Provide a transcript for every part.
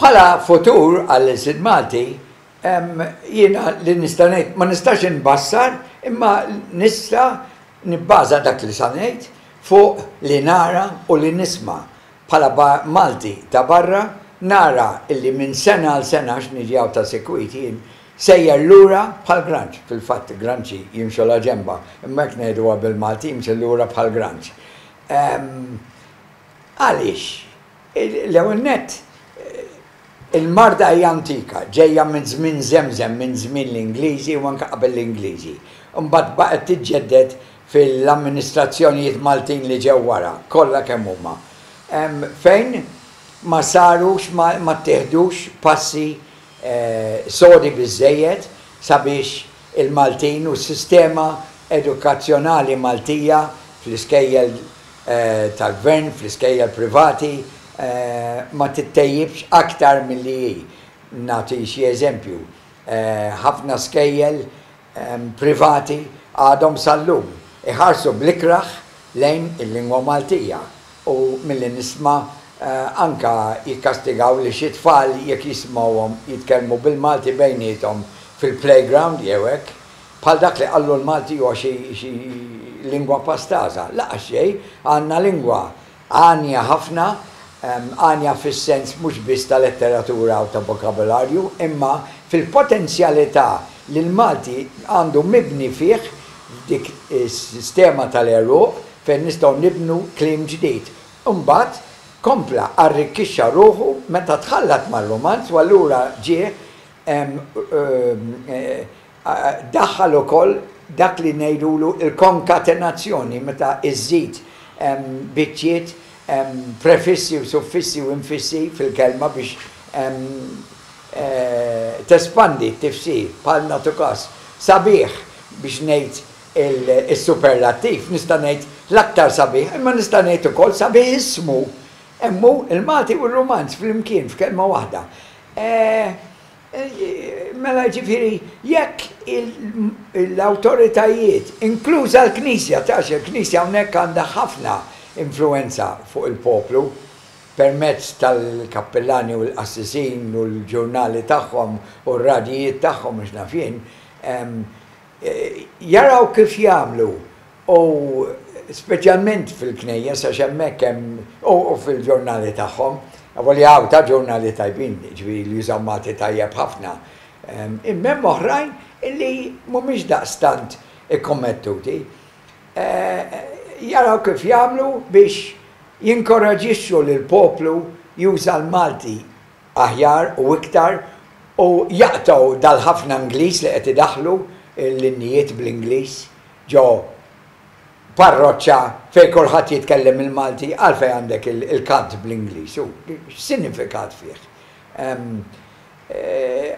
Bħala futur għall-ilsid Malti, jiena li nista' ngħid, ma nistax inbassar imma nista' nibbaża dak li sa ngħid fuq li nara u li nisma'. Bħala Malti ta' barra, nara illi minn sena għal sena, għax niġi hawn ta' sikwit jien, sejjer lura bħal granċ, fil-fatt granċi jimxu la ġenba, imma jekk ngħiduha bil-Malti jimxu lura bħal granċ. Għaliex? L-ewwel nett, il-marda hija antika, ġejja minn żmien żemżem, minn żmien l-Ingliżi u anke qabel l-Ingliżi. Imbagħad baqgħet tiġġedded fil-amministrazzjonijiet Maltin li ġew wara, kollha kemm huma, fejn ma sarux, ma ttieħdux passi sodi biżżejjed sabiex il-Maltin u s-sistema edukazzjonali Maltija fl-iskejjel tal-Gvern, fl-iskejjel privati, ma tittejjibx aktar milli hi. Nagħti xi eżempju, ħafna skejjel privati għadhom sal-lum iħarsu bl-ikrah lejn il-lingwa Maltija. U milli nisma' anke jikkastigaw li xi tfal jekk jisimgħuhom jitkellmu bil-Malti bejniethom fil-playground jew hekk, bħal dak li qallu l-Malti huwa xi lingwa pastaża. Lanqas xejn, għandna lingwa għanja ħafna, għanja fis-sens mhux biss ta' letteratura u ta' vokabularju, imma fil-potenzjalità li l-Malti għandu mibni fih f'dik is-sistema tal-għeruq, fejn nistgħu nibnu kliem ġdid. Imbagħad kompla arrikkixxa ruħu meta tħallat mar-rumanz u allura ġie daħħal ukoll dak li ngħidulu l-konkatenazzjoni meta żżid biċċiet, prefissi u suffissi u infissi fil-kelma biex tespandi t-tifsir, bħal nagħtu każ, sabiħ biex ngħid Is-superlattiv, nista' ngħid l-aktar sabiħ, imma nista' ngħid ukoll sabiħissimu. Hemm hu l-Malti u r-Rumanz flimkien f'kelma waħda. Mela jiġifieri jekk l-awtoritajiet, inkluża l-Knisja, għax il-Knisja hawnhekk għandha ħafna influwenza fuq il-poplu permezz tal-kappillani u l-qassisin u l-ġurnali tagħhom u r-radjijiet tagħhom u x'naf jien, Jaraw kif jagħmlu u speċjalment fil-knejjes għax hemmhekk hemm u fil-ġurnali tagħhom, avolja hawn ta' ġurnali tajbin, jiġifieri li jużaw Malti tajjeb ħafna, imma hemm oħrajn li mhumiex daqstant ikkommettuti. Jaraw kif jagħmlu biex jinkoraġixxu lill-poplu juża l-Malti. aħjar u iktar u jaqtgħu dal-ħafna Ingliż li qed idaħħlu l-innijiet bl-Ingliż ġo parroċċa fejn kulħadd jitkellem il-Malti għalfejn għandek il-kant bl-Ingliż u x'sinifikat fih.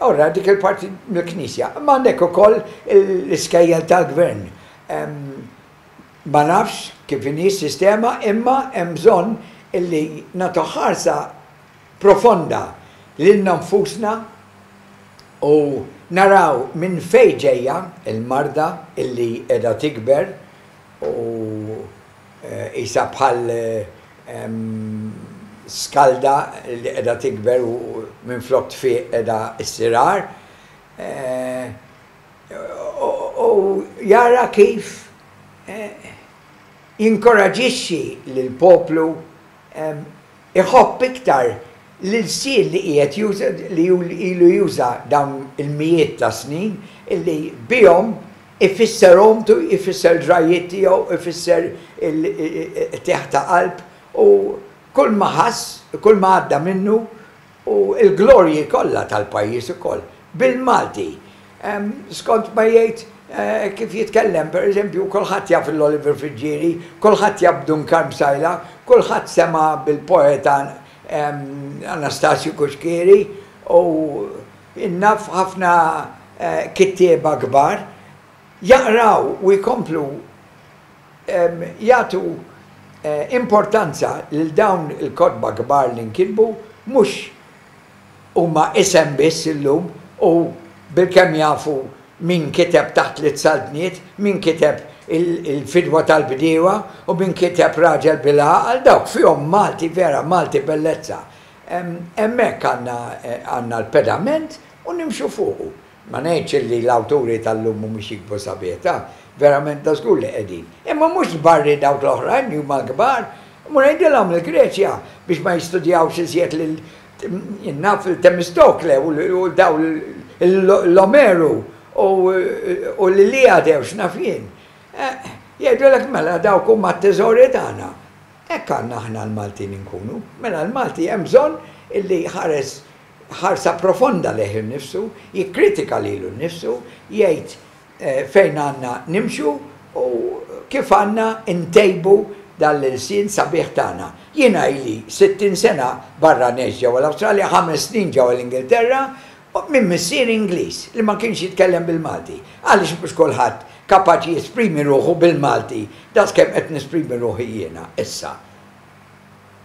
Allura dik il-parti mill-Knisja. Imma għandek ukoll l-iskejjel tal-Gvern. Ma nafx kif inhi s-sistema imma hemm bżonn illi nagħtu ħarsa profonda lilna nfusna u naraw minn fejn ġejja l-marda li qiegħda tikber u qisha bħal skalda li qiegħda tikber u minflok tfiq qiegħda ssir agħar u jara kif jinkoraġixxi lill-poplu Iħobb iktar l-ilsien li qiegħed juża, li hu ilu juża dawn il-mijiet ta' snin, illi bihom ifisser ommtu, ifisser ġrajjiet tiegħu, ifisser il-qtigħ ta' qalb u kull ma ħass, kull ma għadda minnu. U l-glorji kollha tal-pajjiż ukoll, bil-Malti. Skont ma jgħid kif jitkellem, per eżempju, kulħadd jaf lil Oliver Friggieri, kulħadd jaf b'Dun Karm Sajla, kulħadd sema' bil-poeta Anastasju Cuschieri u naf ħafna kittieba kbar. Jaqraw u jkomplu jagħtu importanza lil dawn il-kotba kbar li nkitbu mhux huma isem biss illum u bilkemm jafu min kiteb Taħt Tliet Saltniet, min kiteb Il-Fidwa tal-Bdiewa u min kiteb Raġel bil-Għaqal, dawk fihom Malti vera, Malti bellezza. Hemmhekk għandna l-pedament u nimxu fuqu. Ma ngħidx illi l-awturi tal-lum mhumiex jiktbu sabiħta, verament ta' żgur li qegħdin. Imma mhux tbarri dawk l-oħrajn li huma l-kbar. Mur għidilhom il-Greċja biex ma jistudjawx iżjed lil, naf, il-Temistokle u lil dawn l-Omeru u l-Iliade u x'naf jien. Jgħidulek mela dawk huma t-teżori tagħna. Hekk għandna aħna l-Maltin inkunu. Mela l-Malti hemm bżonn illi jħares ħarsa profonda lejh innifsu, jikkritika lilu nnifsu, jgħid fejn għandna nimxu u kif għandna ntejbu dan l-ilsien sabiħ tagħna. Jiena ili 60 sena barra ngħix ġewwa l-Awstralja, ħames snin ġewwa l-Ingilterra, minn missieri Ingliż li ma kienx jitkellem bil-Malti. Għaliex mhux kulħadd kapaċi jesprimi ruħu bil-Malti daqskemm qed nesprimi ruħi jiena issa?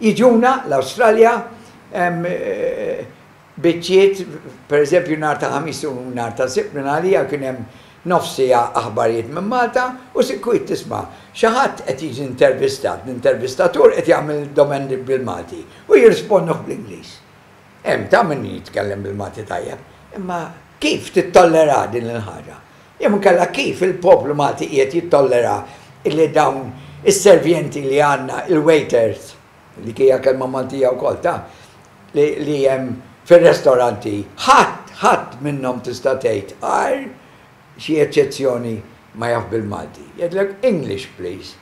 Jiġuna l-Awstralja biċċiet, per eżempju nhar ta' Ħamis u nhar ta' Sibt minn għalija kien hemm nofs siegħa aħbarijiet minn Malta u sikwit tisma' xi ħadd qed jiġi intervistat, l-intervistatur qed jagħmel domendi bil-Malti u jirrisponduh bl-Ingliż. Hemm ta' min jitkellem bil-Malti tajjeb, imma kif tittollera din il-ħaġa? Jew inkella kif il-poplu Malti qiegħed jittollera illi dawn is-servienti li għandna, il-waiters, dik hija kelma Maltija wkoll, ta, li hemm fir-restoranti, ħadd, ħadd minnhom tista' tgħid, għajr xi eċċezzjoni, ma jaf bil-Malti. Jgħidlek, English please.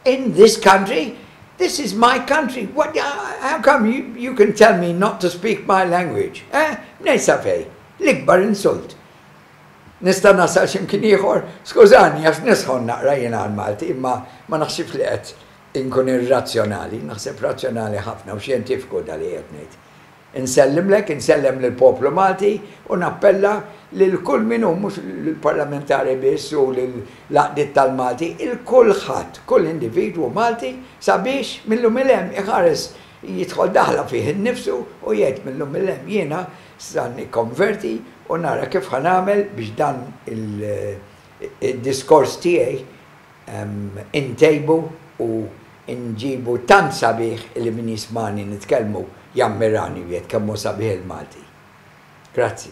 In this country? This is my country. What, how come you, you can tell me not to speak my language? Eh? Mnejn sa fejn? L-ikbar insult. Nista' nasal xi mkien ieħor? Skużani għax nisħon naqra jiena għall-Malti imma ma naħsibx li qed inkun irrazzjonali, naħseb razzjonali ħafna u xjentifiku dak li qiegħed ngħid. Insellimlek, insellem lill-poplu Malti u nappella lil kull min hu, mhux lill-parlamentari biss u lill-għaqdiet tal-Malti, 'il kulħadd, kull individwu Malti sabiex mil-lum 'il hemm iħares, jidħol daħla fih innifsu u jgħid mil-lum 'il hemm jiena Sa nikkonverti u nara kif ħa nagħmel biex dan id-diskors tiegħi intejbu u nġibu tant sabiħ illi min jismagħni nitkellmu jammirani u jgħid kemm hu sabiħ il-Malti. Grazzi.